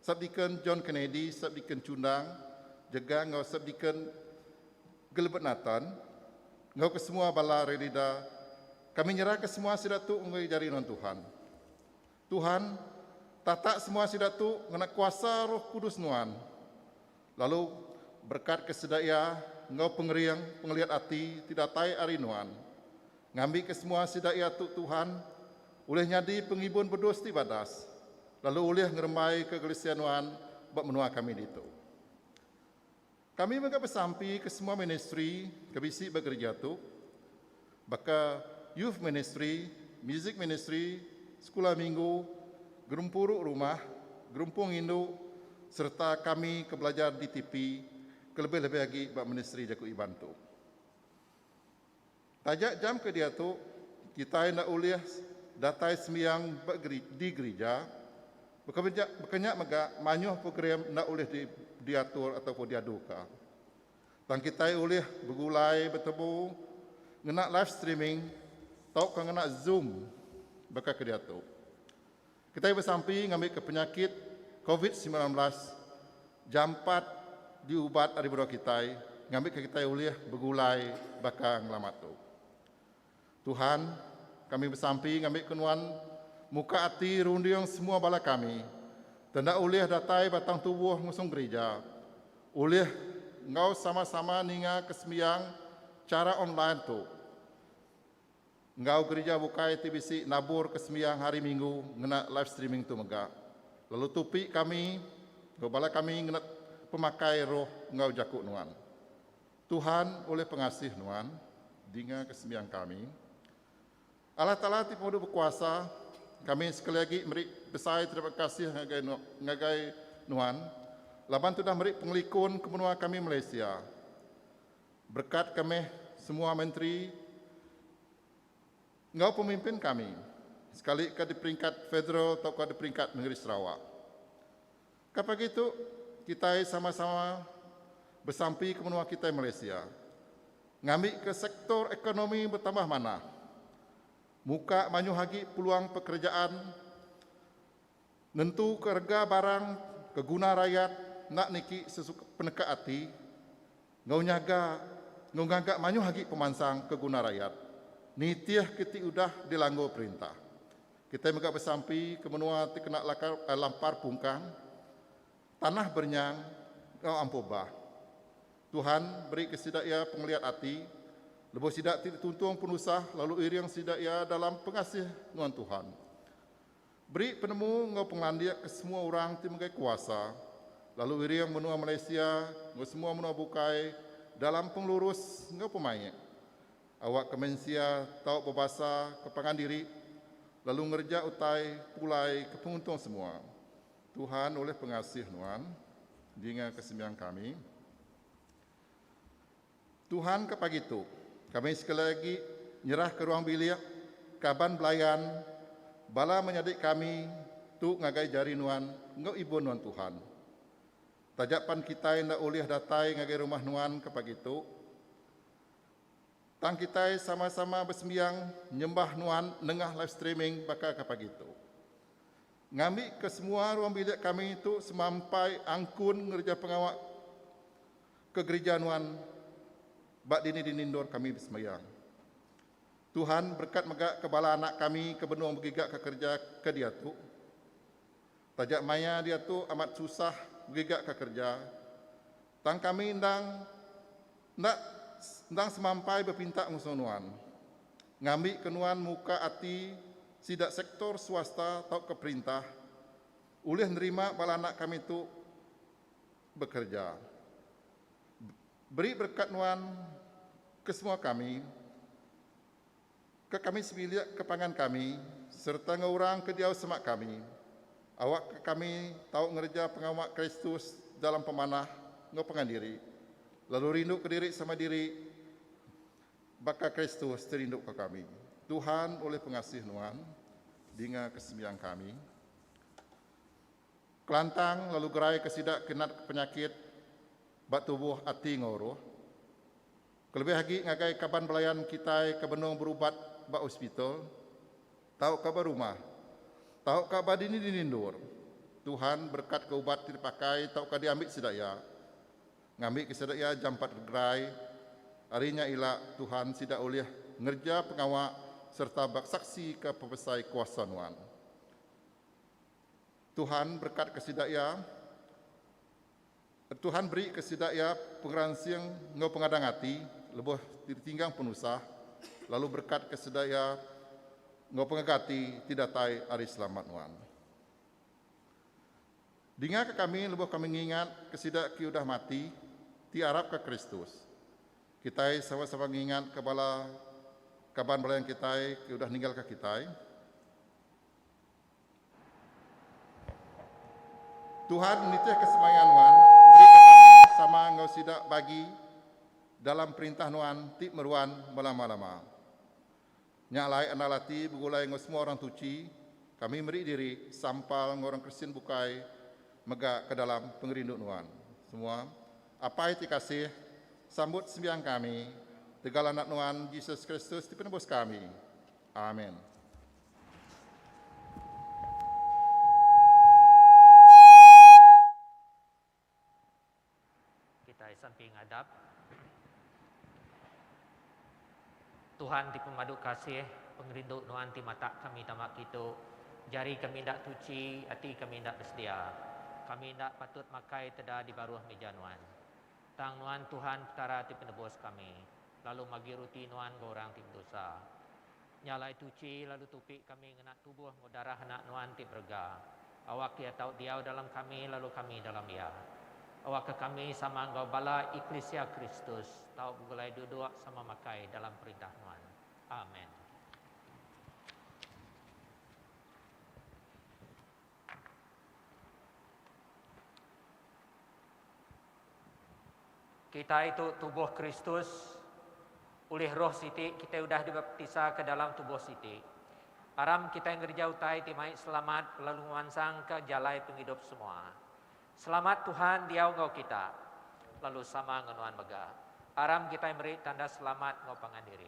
Subdeacon John Kennedy, Subdeacon Chundang, jega enggau Subdeacon Gilbert Nathan, enggau kesemua bala Rerida, kami nyerahka semua sida tu enggau jari nuan Tuhan. Tuhan, tatak semua sida tu ngena kuasa Roh Kudus nuan, lalu berekatka sida iya enggau pengering pengeliat ati ti datai ari nuan. Ngambika semua sida iya tu, Tuhan, ulih nyadi pengibun bedus ti badas, lalu ulih ngerembaika Kelisia nuan ba menua kami ditu. Kami mega besampi ke semua ministri ke bisi ba gerija tu, baka youth ministri, music ministri, sekula minggu, gerempuru rumah, gerumpung indu sereta kami ke belajar di tipi, kelebih-lebih agi ba ministri jaku Iban tu. Taja jam ke diatu, kitai enda ulih datai sembiang ba di gerija. Baka nya mega, mayuh program enda ulih diatur atau pun diaduka. Tang kitai ulih begulai betemu ngena live streaming tauka ngena Zoom baka ke diatu. Kitai besampi ngambika penyakit Covid semilan belas jampat diubat ari menua kitai ngambika kitai ulih begulai baka ngelamat tu. Tuhan, kami besampi ngambika Nuan muka ati runding semua bala kami ti enda ulih datai batang tubuh ngusung gerija, ulih enggau sama-sama ninga kesembiang chara online tu. enggau gerija bukai ti bisi naburka sembiang Hari Minggu ngena live streaming tu mega lalu tupi kami enggau bala kami ngena pemakai roh enggau jaku nuan. Tuhan ulih pengasih nuan dingaka sembiang kami. Allah Taala ti Penguduh Bekuasa, kami sekali agi meri besai terima kasih ngagai ngagai nuan laban tudah meri pengelikun ke menua kami Malaysia. Berkat ke meh semua menteri enggau pemimpin kami sekalika di peringkat federal tauka di peringkat nengeri Sarawak. Ka pagi tu kitai sama-sama besampi ke menua kitai Malaysia ngambika sektor ekonomi betambah manah, muka mayuh agi peluang pekerejaan, Nentuka rega barang ke guna rayat enda niki sesuka peneka ati enggau nyaga enggau ngaga mayuh agi pemansang ke guna rayat nitihka ti udah dilanggur perintah. Kitai mega besampi ke menua ti kena lampar pungkang, tanah berenyang enggau ampuh bah. Tuhan berika sida iya pengeliat ati lebuh sida ti dituntung penusah lalu iring sida iya dalam pengasih nuan Tuhan. Beri penemu enggau pengelandik ke semua orang ti megai kuasa, lalu iring menua Malaysia enggau semua menua bukai dalam pengelurus enggau pemaik. Awakka mensia tau bebasa ke pangan diri lalu ngereja utai pulai ke penguntung semua. Tuhan ulih pengasih nuan. Dinga ke sembiang kami. Tuhan ke pagi tu, kami sekali agi nyerahka ruang bilik kaban belayan bala menyadi kami tu ngagai jari nuan enggau ibun nuan Tuhan. Taja pan kitai enda ulih datai ngagai rumah nuan ke pagi tu, tang kitai sama-sama besembiang nyembah nuan nengah live streaming baka ke pagi tu. Ngambika semua ruang bilik kami tu semampai angkun ngereja pengawa Ke gerija nuan ba dini-dini endur kami besembayang. Tuhan berekat mega ke bala anak kami ke benung begiga ke kereja ke diatu. Taja maya diatu amat susah begiga ke kereja, tang kami endang enda endang semampai bepinta ngusung nuan, ngambi ke nuan muka ati sida sektor swasta tauka perintah ulih nerima bala anak kami tu Bekerja. Beri berekat nuan ke semua kami, ke kami sebilik ke pangan kami sereta enggau orang ke diau semak kami. Awakka kami tau ngereja pengawa Kristus dalam pemanah enggau pangan diri, lalu rinduka diri sama diri baka Kristus ti rinduka kami. Tuhan ulih pengasih nuan, dinga kesembiang kami. Kelantang lalu geraika sida ke natka penyakit ba tubuh, ati enggau roh. Kelebih agi ngagai kaban belayan kitai ke benung berubat ba hospital tauka ba rumah tauka ba dini-dini endur, Tuhan berekatka ubat ti dipakai tauka diambi sida iya. Ngambika sida iya jampat gerai, ari nya ila Tuhan sida ulih ngereja pengawa sereta bekasaksika pepesai kuasa Nuan. Tuhan berekatka sida iya Tuhan berika sida iya pengeransing enggau pengadang ati lebuh ditinggang penusah lalu berekatka sida iya enggau pengaga ati ti datai ari selamat nuan. Dingaka kami lebuh kami ngingatka sida ke udah mati ti arapka Kristus. Kitai sama-sama ngingatka bala kaban belayan kitai ke udah ninggalka kitai. Tuhan nitihka semaya nuan, berika kami sama enggau sida bagi dalam Perintah Nuan ti meruan belama-lama. Nya alai andal ati begulai enggau semua orang tuchi, kami meri diri sampal enggau orang Kristian bukai mega ke dalam pengerindu nuan. Semua, Apai ti kasih, sambut sembiang kami tegal Anak Nuan, Jesus Kristus ti penebus kami. Amen. Kitai sampi ngadap. Tuhan ti pemadu kasih, pengerindu Nuan ti matak kami tama kitu. Jari kami enda tuchi, ati kami enda besedia. Kami enda patut makai teda di baruh mija Nuan. Tang Nuan Tuhan Petara ti penebus kami, lalu magi ruti Nuan enggau orang ti bedosa. Nya alai tuchi lalu tupi kami ngena tubuh enggau darah Anak Nuan ti berega. Awak Iya tau diau dalam kami lalu kami dalam Iya. Awakka kami sama enggau bala eklisia Kristus tau begulai duduk sama makai dalam perintah Nuan. Amen. Kitai tu tubuh Kristus. Ulih roh siti kitai udah dibaptisa ke dalam tubuh siti. Aram kitai ngereja utai ti mai selamat lalu ngemansangka jalai pengidup semua. Selamat Tuhan diau enggau kita lalu sama enggau nuan mega. Aram kitai meri tanda selamat enggau pangan diri.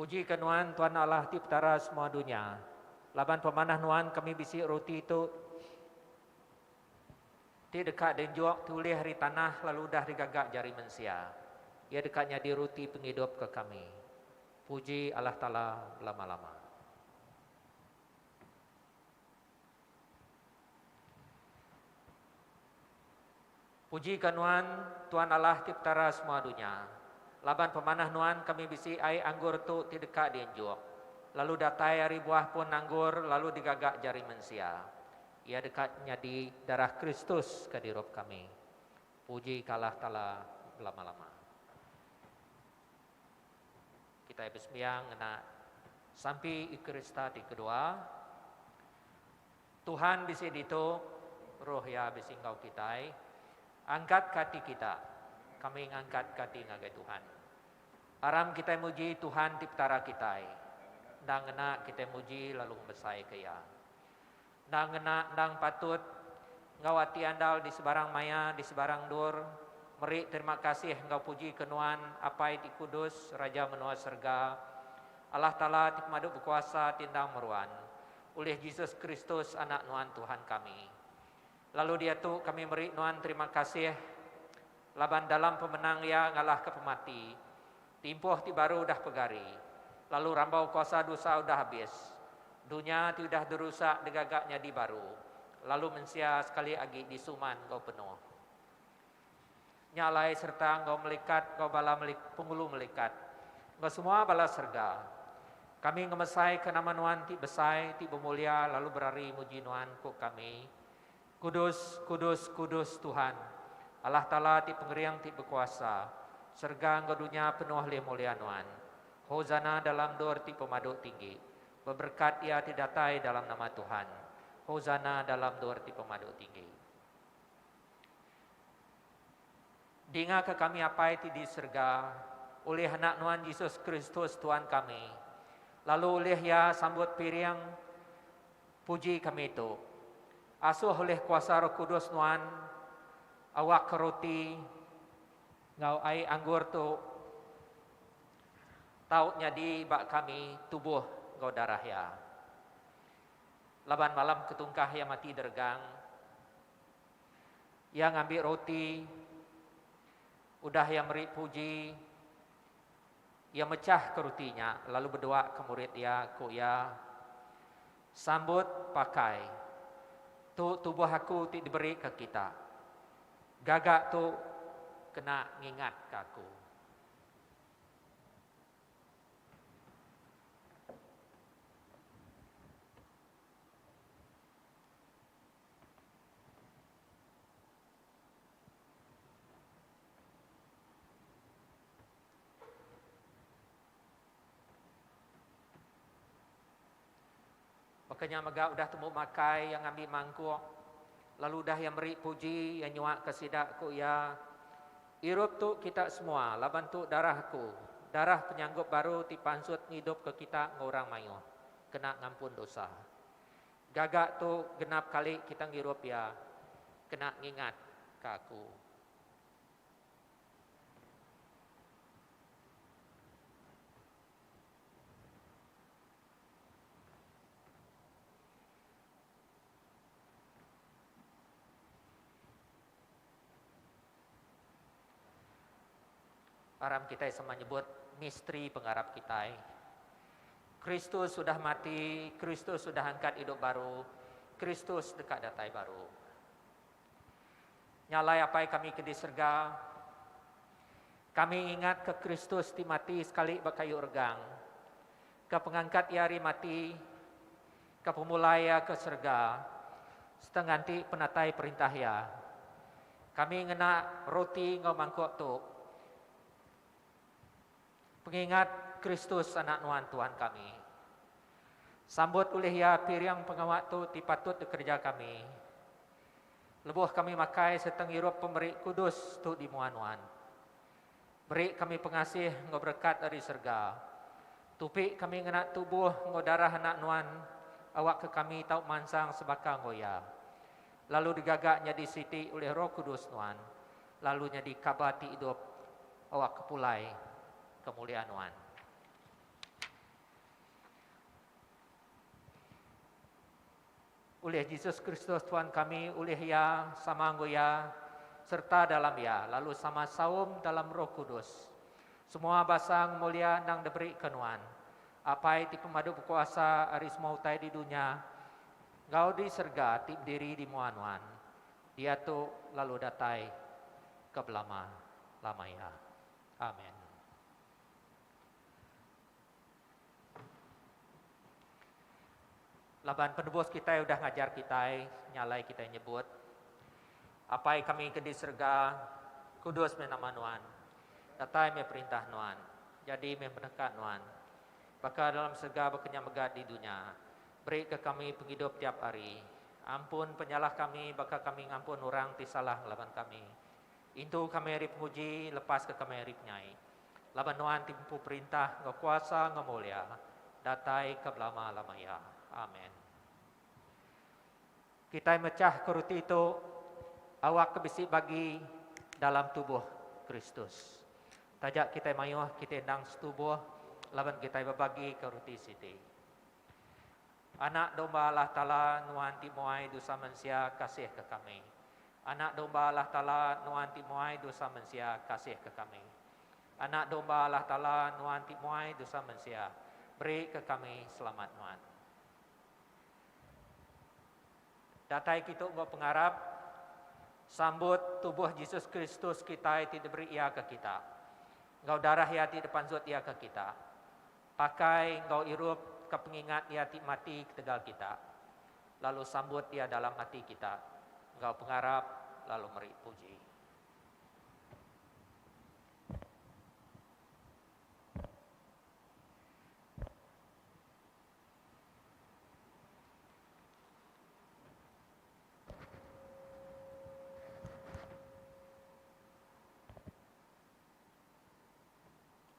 Puji ke nuan Tuan Allah ti petara semua dunya. Laban pemanah nuan kami bisi ruti tu. Ti deka diunjuk ti ulih ari tanah lalu udah digaga jari mensia, iya deka nyadi ruti pengidup ke kami. Puji Allah Taala belama-lama. Puji ka Nuan, Tuan Allah ti Petara semua dunya. Laban pemanah Nuan kami bisi ai anggur tu ti deka diunjuk, lalu datai ari buah pun anggur lalu digaga jari mensia. Iya deka nyadi darah Kristus ke dirup kami. Puji ka Allah Taala belama-lama. Kitai besembiang ngena Sampi Ekerista ti kedua. Tuhan bisi ditu, Roh Iya bisi enggau kitai. Angkat ka ati kita. Kami ngangkat ka ati ngagai Tuhan. Aram kitai muji Tuhan ti Petara kitai. Enda ngena kitai muji lalu ngemesai ka Iya. Endang ngena endang patut enggau ati andal di sebarang maya di sebarang endur meri terima kasih enggau puji ke Nuan Apai ti kudus Raja menua serega Allah Taala ti pemadu bekuasa ti endang meruan ulih Jesus Kristus anak Nuan Tuhan kami Lalu diatu kami meri nuan terima kasih laban dalam pemenang iya ngalahka pemati, timpuh ti baru udah pegari, lalu rambau kuasa dusa udah abis, dunya ti udah dirusak digaga nyadi baru, lalu mensia sekali agi disuman enggau penuh. Nya alai sereta enggau melikat enggau bala Penghulu Melikat enggau semua bala serega. Kami ngemesaika nama Nuan ti besai, ti bemulia lalu berari muji Nuan, ku kami. Kudus, kudus, kudus Tuhan, Allah Taala ti Pengering ti Bekuasa. Serega enggau dunya penuh lih mulia Nuan. Hosana dalam endur ti pemadu tinggi. Beberekat iya ti datai dalam nama Tuhan. Hosana dalam endur ti pemadu tinggi. Dingaka kami Apai ti di serega, ulih Anak Nuan Jesus Kristus Tuan kami, lalu ulih Iya sambut piring puji kami tu. Asuh ulih kuasa Roh Kudus Nuan, awakka roti enggau ai anggur tu tau nyadi ba kami tubuh enggau darah Iya. Laban malam ke tungkah Iya mati deregang, Iya ngambi roti, udah iya meri puji, iya mechahka roti nya lalu bedua ke murid iya, ku iya, Sambut, pakai. Tu tubuh aku ti diberika kita. Gaga tu kena ngingatka aku. Baka nya mega udah tembu makai iya ngambi mangkuk lalu udah iya meri puji iya nyuaka sida ku iya Irup tu kita semua laban tu darah aku darah penyanggup baru ti pansut ngidupka kita enggau orang mayuh kena ngampun dosa. Gaga tu genap kali kita ngirup iya kena ngingat ka aku. Aram kitai sama nyebut misteri pengarap kitai. Kristus udah mati, Kristus udah angkat idup baru, Kristus deka datai baru. Nya alai Apai kami ke di serega, kami ngingatka Kristus ti mati sekali ba kayu regang, ke pengangkat Iya ari mati, Ka pemulai iya ke serega, sereta nganti penatai perintah iya, kami ngena roti enggau mangkuk tu pengingat Kristus Anak Nuan Tuhan kami. Sambut ulih iya piring pengawa tu ti patut dikereja kami, lebuh kami makai sereta ngirup pemeri kudus tu di mua nuan. Beri kami pengasih enggau berekat ari serega. Tupi kami ngena tubuh enggau darah Anak Nuan awakka kami tau mansang sebaka enggau iya, lalu digaga nyadi siti ulih Roh Kudus Nuan, lalu nyadi kaba ti idup awakka pulai kemulia Nuan. Ulih Jesus Kristus Tuhan kami, ulih Iya, sama enggau Iya, serta dalam Iya, lalu sama saum dalam Roh Kudus. Semua basa ngemulia endang diberika Nuan, Apai ti pemadu bekuasa ari semua utai di dunya enggau di serega ti bediri di mua Nuan, diatu lalu datai ke belama-lama iya. Amen. Laban penebus kitai udah ngajar kitai nyalai kitai nyebut, Apai kami ke di serega, kudus meh nama Nuan. Datai meh perintah Nuan. Jadi meh peneka Nuan. Baka dalam serega baka nya mega di dunya. Berika kami pengidup tiap hari. Ampun penyalah kami baka kami ngampun orang ti salah ngelaban kami. Intu kami ari penguji, lepaska kami ari penyai. Laban Nuan ti Empu Perintah enggau Kuasa enggau Mulia, datai ke belama-lama iya. Amen. Kitai mechahka ruti tu awak ke bisi bagi dalam tubuh Kristus. Taja kitai mayuh, kitai endang setubuh laban kitai bebagika ruti siti. Anak Domba Allah Taala, Nuan ti muai dosa mensia, kasihka kami. Anak Domba Allah Taala, Nuan ti muai dosa mensia, kasihka kami. Anak Domba Allah Taala, Nuan ti muai dosa mensia, berika kami selamat Nuan. Datai kitu enggau pengarap sambut tubuh Jesus Kristus kitai ti diberi Iya ke kita, enggau darah Iya ti dipanzut Iya ke kita. Pakai enggau irup ka pengingat iya ti mati ketegal kita, lalu sambut iya dalam ati kita enggau pengarap lalu meri puji.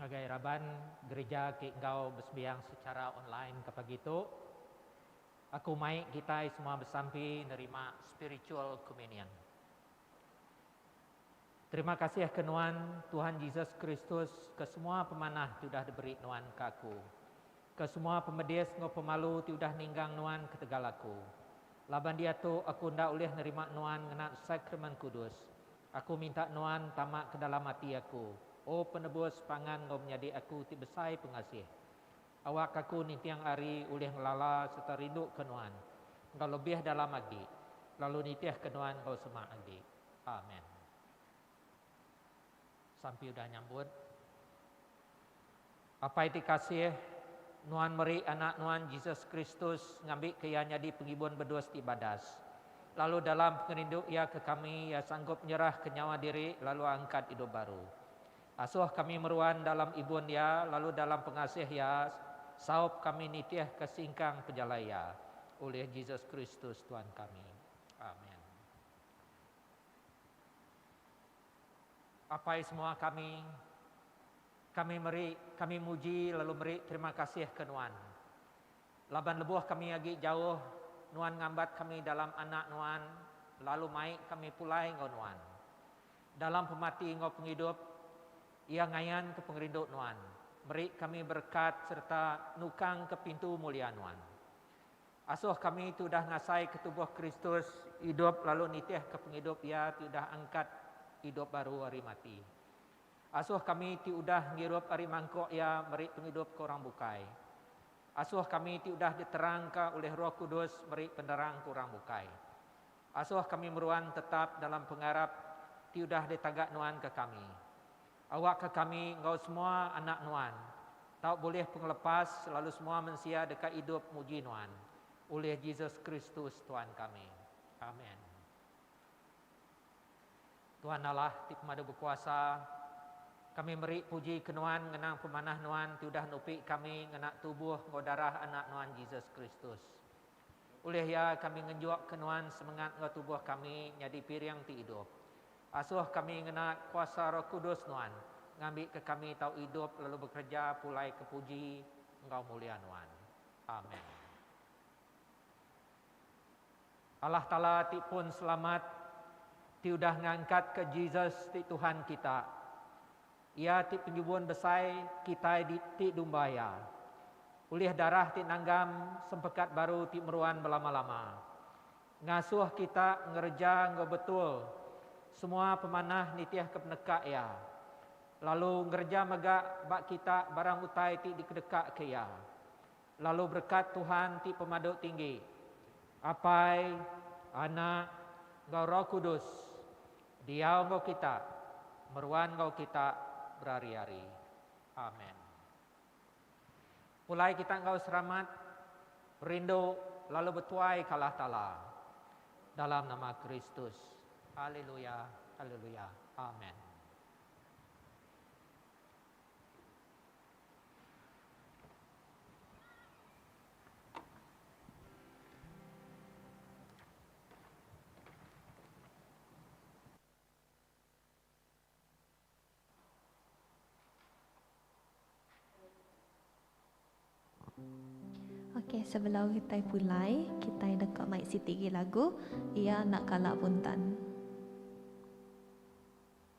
Ngagai raban gerija ti enggau besembiang sechara online ke pagi tu, aku mai kitai semua besampi nerima Spiritual Communion. Terima kasih ke nuan, Tuhan Jesus Kristus, ke semua pemanah ti udah diberi nuan ke aku. Ke semua pemedis enggau pemalu ti udah ninggang nuan ketegal aku. Laban diatu aku enda ulih nerima nuan ngena Sakramen Kudus. Aku minta nuan tama ke dalam ati aku, O Penebus pangan enggau menyadi aku ti besai pengasih. Awak aku ninting ari ulih ngelala sereta rinduka nuan enggau lebih dalam agi, lalu nitihka nuan enggau semak agi. Amen. Sampi udah nyambut. Apai ti kasih, Nuan meri Anak Nuan, Jesus Kristus, ngambika Iya nyadi Pengibun bedus ti badas. Lalu dalam pengerindu Iya ke kami, Iya sanggup nyerahka nyawa diri lalu angkat idup baru. Asuh kami meruan dalam Ibun Iya lalu dalam pengasih Iya, saup kami nitihka singkang pejalai Iya. Ulih Jesus Kristus Tuan kami. Amen. Apai semua kami, kami meri kami muji lalu meri terima kasih ke Nuan. Laban lebuh kami agi jauh, Nuan ngambat kami dalam Anak Nuan lalu mai kami pulai enggau Nuan. Dalam pemati enggau pengidup, iya ngayanka pengerindu Nuan, meri kami berekat sereta nukangka pintu mulia Nuan. Asuh kami ti udah ngasaika tubuh Kristus idup lalu nitihka pengidup Iya ti udah angkat idup baru ari mati. Asuh kami ti udah ngirup ari mangkuk Iya meri pengidup ke orang bukai. Asuh kami ti udah diterangka ulih Roh Kudus meri penerang ke orang bukai. Asuh kami meruan tetap dalam pengarap ti udah ditaga nuan ke kami. Awakka kami enggau semua anak Nuan tau bulih pengelepas lalu semua mensia deka idup muji Nuan, ulih Jesus Kristus Tuan kami. Amen. Tuan Allah ti pemadu bekuasa, kami meri puji ke Nuan ngenang pemanah Nuan ti udah nupi kami ngena tubuh enggau darah Anak Nuan Jesus Kristus. Ulih iya kami ngenjukka nuan semengat enggau tubuh kami nyadi piring ti idup. Asuh kami ngena kuasa Roh Kudus nuan ngambika kami tau idup lalu bekereja pulai ke puji enggau mulia nuan. Amen. Allah Taala ti pun selamat, ti udah ngangkatka Jesus ti Tuhan kita, Iya ti penjubun besai kitai di ti dumba Iya. Ulih darah ti nanggam sempekat baru ti meruan belama-lama, ngasuh kita ngereja enggau betul semua pemanah nitihka peneka Iya, lalu ngereja mega ba kita barang utai ti dikedekaka Iya. Lalu berekat Tuhan ti Pemadu Tinggi, Apai, Anak, enggau Roh Kudus, Diau enggau kita, meruan enggau kita berari-ari. Amen. Pulai kita enggau seramat, rindu lalu betuai ka Allah Taala. Dalam nama Kristus. Haleluya, haleluya. Amen. Okey sebelum kitai pulai kitai deka mai siti gi lagu Iya Enda Kala Buntan.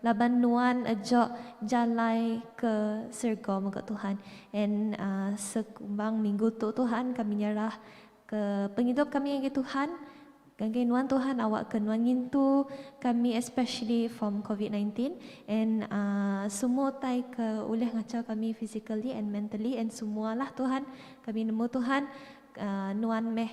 Laban nuan ejok jalai ke serga mega Tuhan en sekumbang minggu tu Tuhan kami nyerah ke pengidup kami ngagai Tuhan ngagai nuan Tuhan awak ke nuan ngintu kami especially from covid nineteen en semua utai ke ulih ngachau kami physically and mentally en semua lah Tuhan kami nemu Tuhan nuan meh